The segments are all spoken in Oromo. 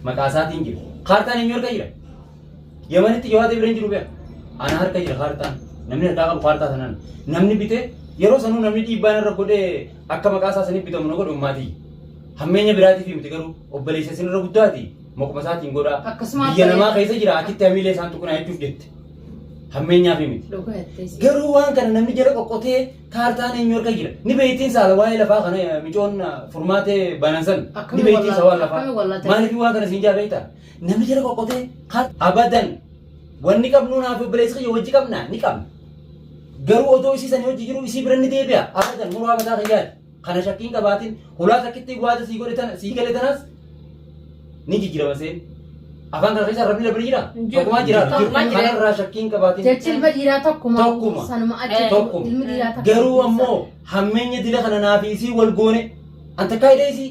Maqaa isaatiin jira. Kaartaan eenyu harka jira? Yamanitti Jawaad Ibreen jiru beeka. Ana harka jira kaartaan. Namni harkaa qabu kaartaa sanaan. Namni bitee yeroo sanuu namni dhiibbaan irra godhee akka maqaa isaa saniif bitamu na godhu maatii. Hammeenya biraatiif miti garuu obboleessa isin irra guddaati. Maquma isaatiin godhaa. Akkasuma Biyya abbaa- namaa keessa jira achitti hamiilee isaan tuqinaa jechuuf jette. Hammeenyaaf miti. Dhugaa jettee si. Garuu waan kana namni jala qoqqotee Kaartaan eenyu harka jira? Ni beektiin saala waa'ee lafaa kana eh, micoon ah, furmaatee banan san. Ni Akkami beektiin wallaalte, sawaan lafaa. akkami wallaalte. Maaliif waan kana siin jaa beektaa? Namni jala qoqqotee kaar- abadan wanni qabnuu naaf obboleessi kiyya wajji qabna ni qabna. Garuu otoo isii sanii hojii jiru isii bira ni deebi'a. Abadan muraa mataa kiyyaati. Kana shakkii hin qabaatin. Hulaa takkittii gwaata sii godhe tana sii gale tanas ni jijjiirama seen. Afaan kana keessa rabni rabni jira. Hin jiru. Tokkumaa jiraata. Tokkuma jira. Kanarraa shakkii hin qabaatin. Jechi ilma dhiiraa tokkuma. Tokkuma. Sanuma achi Eh. Tokkuma. ilmi dhiiraa takka. Garuu ammoo hammeenya dila kana naaf isii wal goone. An takkaa hidhee isii.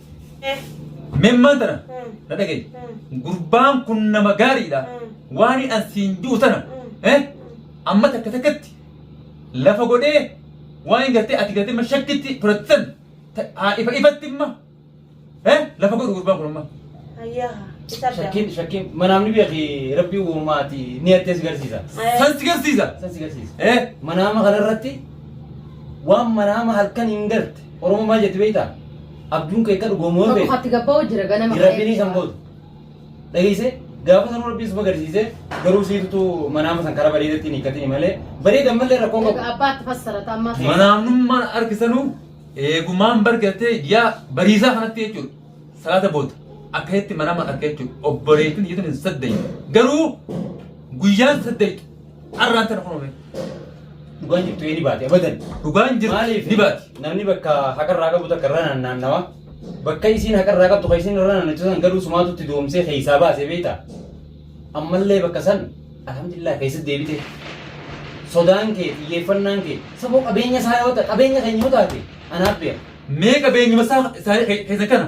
Memmaan tana na dhagaye. Gurbaan kun nama gaariidha. Waan an siin jiru tana amma takka takkatti lafa godhee waan gartee ati gartee ma shakkitti fudhattan haa ifa ifatti imma lafa godhu gurbaan kun amma. Shakkiin shakkiin manaamni beeki rabbii uumaati ni addees garsiisa. San si garsiisa. San si garsiisa. Manaama kanarratti waan manaama halkan hin galte. Oromoo maal jetti beektaa? Abjuun kee akka dhugoomu yoo Tokko beekte. hatti gabba'u jira ganama Jirabbiin ka'ee. isan booda. Dhageessee gaafa sanuu rabbiin suma garsiisee garuu siitu manaama san karaa bareedatti hin hiikkatiin malee bareedan malee rakkoon qabu. Egaa abbaatti fassarata amma. Manaamnummaan argisanuu eegumaan bargatee yaa bariisaa kanatti jechuudha. Salaata booda akka itti manaama arga jechuudha. Obboleettiin jechuun hin saddeetu. Garuu guyyaan saddeetu. Arraan tana kunoo beeku. Dhugaan jirtu ee ni baati abadan. Dhugaan jirtu Maaliif? ni baati. Namni bakka haqarraa qabu takka irra naannawa. Bakka isiin haqarraa qabdu kan isiin irra naannachu san garuu sumaatu itti doomsee keessaa baasee beekta. Ammallee bakka san alhamdulillah keessatti deebite. Sodaan kee xiyyeeffannaan kee saboo qabeenya isaa yoo ta'e qabeenya keenya yoo taate anaaf beeka. Mee qabeenyuma isaa isaa keessa kana.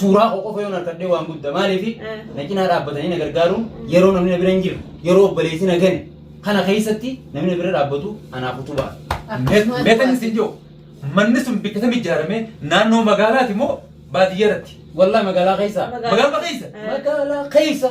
suuraa koo qofa yoon harkadhee waan guddaa maaliif Eh. na cinaa dhaabbatanii na gargaaruun yeroo namni na bira hin jirre yeroo obboleessi na gane kana keessatti namni na bira dhaabbatu anaaf utubaa. Meetan isin jiru manni sun bakka kam ijaarame naannoo magaalaati moo baadiyyaa irratti? Wallah magaalaa keessa. Magaalaa keessa. Eh. Magaalaa keessa.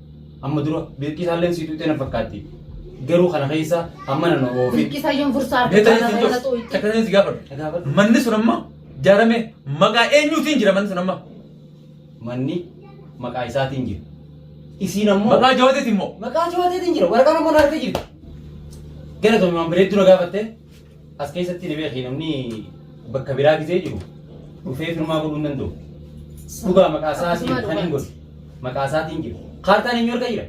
Amma dura birqii isaalleen sii tuqxee na fakkaatti. Garuu kana keessa amma na oofi. Birqisaa yoon fursaa Mee argatu tarii kana tuqxee takka tarii si gaafadhu. Gaafadhu. Manni sun amma jaarame maqaa eenyuutiin jira manni sun amma? Manni maqaa isaatiin jira. Isiin ammoo Maqaa jawateetiin moo? maqaa jawateetiin jira. Waraqaan ammoo na harka jirti. Galatoomi waan bareedduu na gaafattee. As keessatti ni beekii namni bakka biraa gizee jiru dhufee firmaa godhuu hin danda'u. Dhugaa maqaa isaa asiin Akkasuma kan hin dhugaa. godhu. Maqaa isaatiin jira. Kaartaan eenyu harka jira?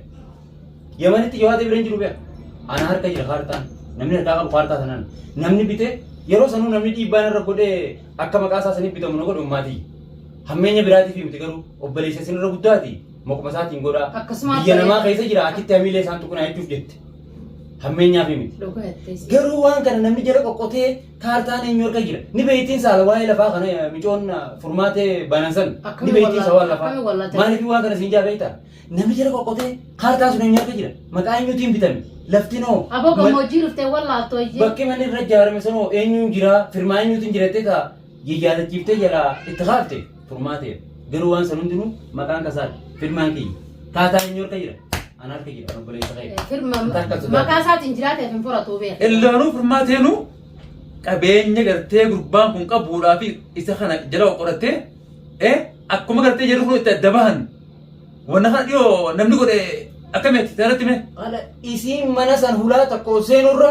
Yamanitti Jawaad Ibrahim jiru beeka. Ana harka jira kaartaan. Namni harkaa qabu kaartaa sanaan. Namni bitee yeroo sanuu namni dhiibbaan irra godhee akka maqaa isaa saniif bitamu na godhe ummaatii. Hammeenya biraatiif miti garuu obboleessa isin irra guddaati. Maquma isaatiin godhaa. Akkasuma Biyya ta'e. namaa keessa jira achitti hamiilee isaan tuqnaa jechuuf jette. Hammeenyaaf miti. Dhugaa jettee si. Garuu waan kana namni jala qoqqotee kaartaan eenyu harka jira. Ni beektiin saala waa'ee lafaa kana eh, micoon ah, furmaatee banan san. Ni Akkami beektiin wallaata- sawaan lafaa. akkami wallaata- Maaliif waan kana siin jaa beektaa? Namni jala qoqqotee kaartaa sun eenyu harka jira. Maqaa eenyuutiin bitame. Lafti noo. Aboo Ma- gammoojjii dhuftee wallaattoo iyyee. Bakki manni irra ijaarame sanoo eenyuun jira? Firmaa eenyuutiin jirattee ta'a? yaadachiiftee jalaa itti kaafte furmaateef garuu waan san hundinuu maqaan kasaadha firmaan kiyya taataa inni harka jira ana harka jira kan obboleessa kee Firma maqaa isaatiin jiraatee fi furatu beeku. illaanuu furmaateenu qabeenya gartee gurbaan kun qabuudhaa fi isa kana jala qorattee eh akkuma gartee jedhu kun itti adda bahan wanna kana dhiyoo namni godhe akkamitti sanatti mee Kana isiin mana san hulaa tokko seenurra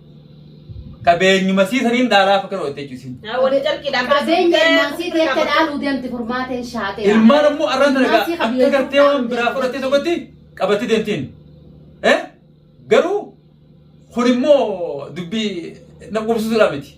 Qabeenyuma sii saniin dhaalaa fakkan hojjette jechuusin. Wani carqii dhaan Qabeenya ilmaan sii teecha dhaaluu deemti furmaateen shaatee. Ilmaan ammoo arraan sana Ilmaan sii egaa qabiyyee akka gartee waan biraa fudhattee fudhattee tokkotti qabattee deemtiin. Eh? Garuu kun immoo dubbii na qubsisuudhaa miti.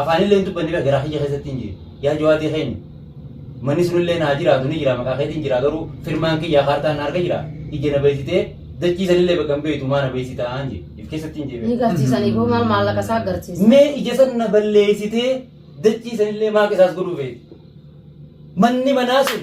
afaanillee hin dubbanne bira garaa kiyya keessatti hin jiru. Yaa jawaatii keenya manni sunillee naa jiraatu ni jira maqaa keetiin jira garuu firmaan kiyya kaartaan na harka jira ija na beeksitee dachii sanillee bakka hin beektu maa na beeksitaa hin jedhe if keessatti hin jedhe. Ni garsiisanii boo maal maallaqa isaa garsiisa. Mee ija san na balleessitee dachii sanillee maa qisaas godhuu feeti. Manni manaa sun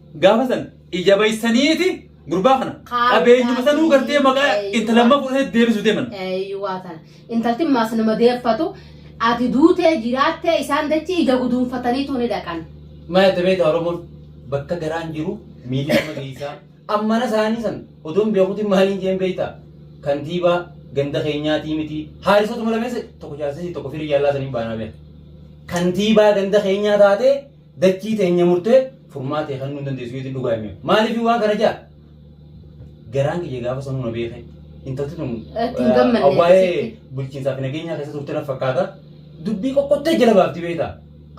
Gaafa san ija baysaniiti gurbaa kana Kaa- qabeenyuma sanuu gartee maqaa Eeyyuu. intalamma fudhatee deebisuu deeman. Eeyyuwaa tana. Intalti maas nama deeffatu ati duutee jiraattee isaan dachii ija guduunfataniitu ni dhaqan. Mana itti beektaa Oromoon bakka garaan jiru miilli nama geessaa. Ammana isaanii san odoon beekuutiin maaliin jeen beektaa? Kantiibaa ganda keenyaatii miti. Haarisatu malameessa tokko jaarsisii tokko firii jaallaa saniin baanaa beekta. Kantiibaa ganda keenyaa taatee Dachii teenya murtee furmaatee kennuu hin dandeessu jechuun dhugaa hime. Maaliif waan kana ja'a? Garaan kiyya gaafa sanuu na beeke. Intalti tun Itti hin gammanne eh, waa'ee akkasitti. bulchiinsaa fi nageenyaa keessa turte na fakkaata. Dubbii qoqqottee jala baafti beekta.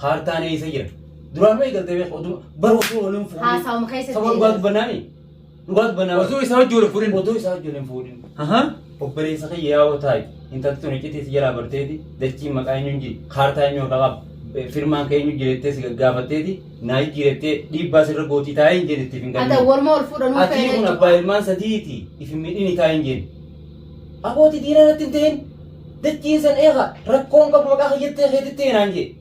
Kaartaan eessa jira? Duraan mee galtee beekta oduu baruu osoo waliin fuudhee. Haasawuma keessa Sababa dhugaa deebi'as. dubbannaani. Dhugaa dubbannaa. Osoo isaa wajjin wal fuudhin. Odoo isaa wajjin hin fuudhin. Aha. Obboleessa kee yaa'oo taa'i. Intalti tun iccitii si jalaa barteeti. Dachiin maqaa eenyuun jiri. Kaartaa eenyu harka qaba. Eh, Firmaan kee eenyu jirettee si gaggaafatteeti. Naa jijjiirettee dhiibbaa sirra gootii taa'ee hin jedhe itti hin Ata galmine. warma wal fuudhan Ati uffee kun abbaa ilmaan sadiiti. Ifi midhini taa'ee hin jedhe. Abooti diinaa irratti hin ta'in. Dachiin san eega. Rakkoon qabu maqaa kee jettee keetitti eenaan jedhe.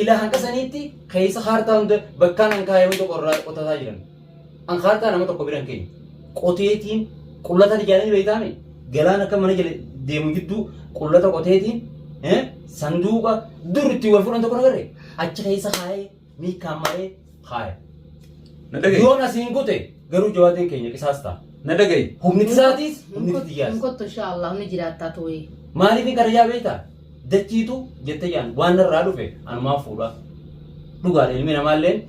Ilaa hanga saniitti keessa kaartaa hunda bakkaan an kaa'e hunda qorraa qotataa jiran. An kaartaa nama tokko biran keenya. Qoteetiin qullataan ijaaranii beektaame galaan akka mana jala deemu jidduu qullata qoteetiin eh, sanduuqa dur ittiin wal fuudhan tokko nagarre achi keessa kaa'ee miikkaan maree Haaya. Na dhaga'i. Yoon asiin kute garuu jawaatiin keenya qisaas ta'a. Na dhaga'i. Humni isaatiis humni Hin xiyyaas. kottu inshaa Allah ni jiraattaa tooyee. Maaliif hin karayyaa beektaa? Dachiitu jette jaan waan narraa dhufe anumaa fuudha. Dhugaadha ilmi namaalleen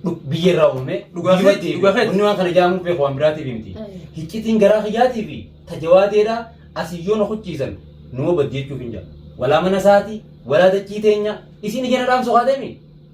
dhu- biyya irraa uumame Dhugaa biyyuma keeti, deebi'a. dhugaa keeti. Wanni waan kana jaamuuf beeku waan biraatiif miti. Ayyo. Hiccitiin garaa kiyyaatii fi tajawaateedha asii yoo na kuchiisan numa baddi jechuuf hin jira. Walaa mana isaati, walaa dachii teenya isiin ija na dhaamsu haa deemi.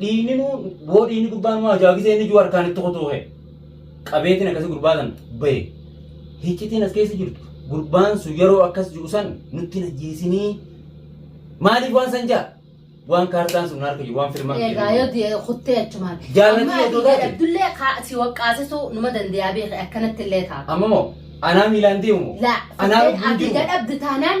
Dhiigni nu boo dhiigni gurbaa nu ajaa gisee inni juu harkaan itti kutuuhe. Qabeetiin akkasii gurbaa san bahe. Hiccitiin as keessa jirtu gurbaan sun yeroo akkas jiru san nutti hin ajjeesinii. Maaliif waan san jaa? Waan kaartaan sun harka jiru waan filmaan Egaa yoo jedhu. di'ee kuttee achumaan. Jaallatni Amma yoo taate. Abdullee kaa si waqqaasisuu numa dandayaa beekne akkanatti illee ta'a. Amma moo anaa miilaan deemu moo? Laa Anaa kuttee lubbuun abdii jiru moo? gadhabdu taanaan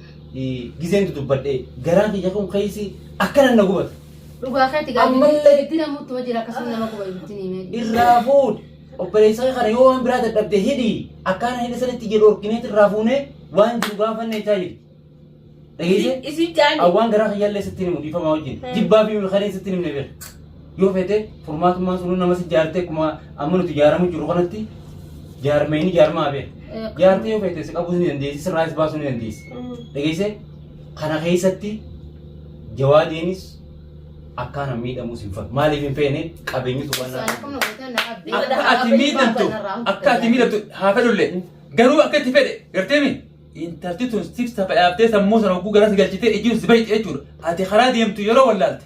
Gizeen dudubbadhee garaa kiyya kun keessi akkanan na gubata. Dhugaa keetti gaafii Ammallee- ibiddina muutuma jira akkasuma nama guba ibiddini himee. Irraa fuudhi. Obboleessa kee kana yoo waan biraa dadhabde hidhi. Akkaan hidha sanitti jedhu orkineetti irraa fuunee waan jiru gaafanne itti hidhi. Dhageesse? Isin jaani. Awwaan garaa kiyyaallee sitti himu dhiifamaa wajjin. Jibbaa fi milkanee sitti himne beeka. Yoo feete furmaatummaan sunuu namas ijaartee akkuma amma nuti ijaaramu jiru kanatti jaarmee ni jaarmaa beela. Eh, Jaartee yoo feete si qabuus ni dandeessi sirraas baasuu ni dandeessi. Mm. Dhageessee kana keessatti jawaadeenis akkaan miidhamuus hin fakkaatu. Maaliif hin feene qabeenyi Isaan tuqannaa. akkuma gootee na abdii. Akka Akka ati miidhamtu akka ati miidhamtu haa fedhullee garuu akka itti fedhe gartee mi intalti tun sif safa dhaabtee sammuu sana hogguu garas galchitee ijjiin si bahi jechuudha. Ati karaa deemtu yeroo wallaalte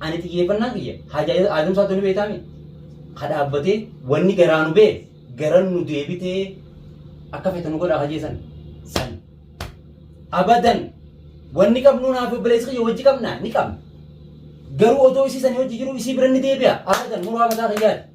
Ani xiyyeeffannaan kiyya haajaa Aadam Saatoo ni beektaami? Ka dhaabbatee wanni garaa nu bee garan nu deebitee akka feete nu godhaa hajee san. San. Abadan wanni qabnuu naa fi obboleessi kiyya wajji qabnaa ni qabna. Garuu otoo isii sanii wajji jiruu isii bira ni deebi'a abadan muraa mataa kiyyaati.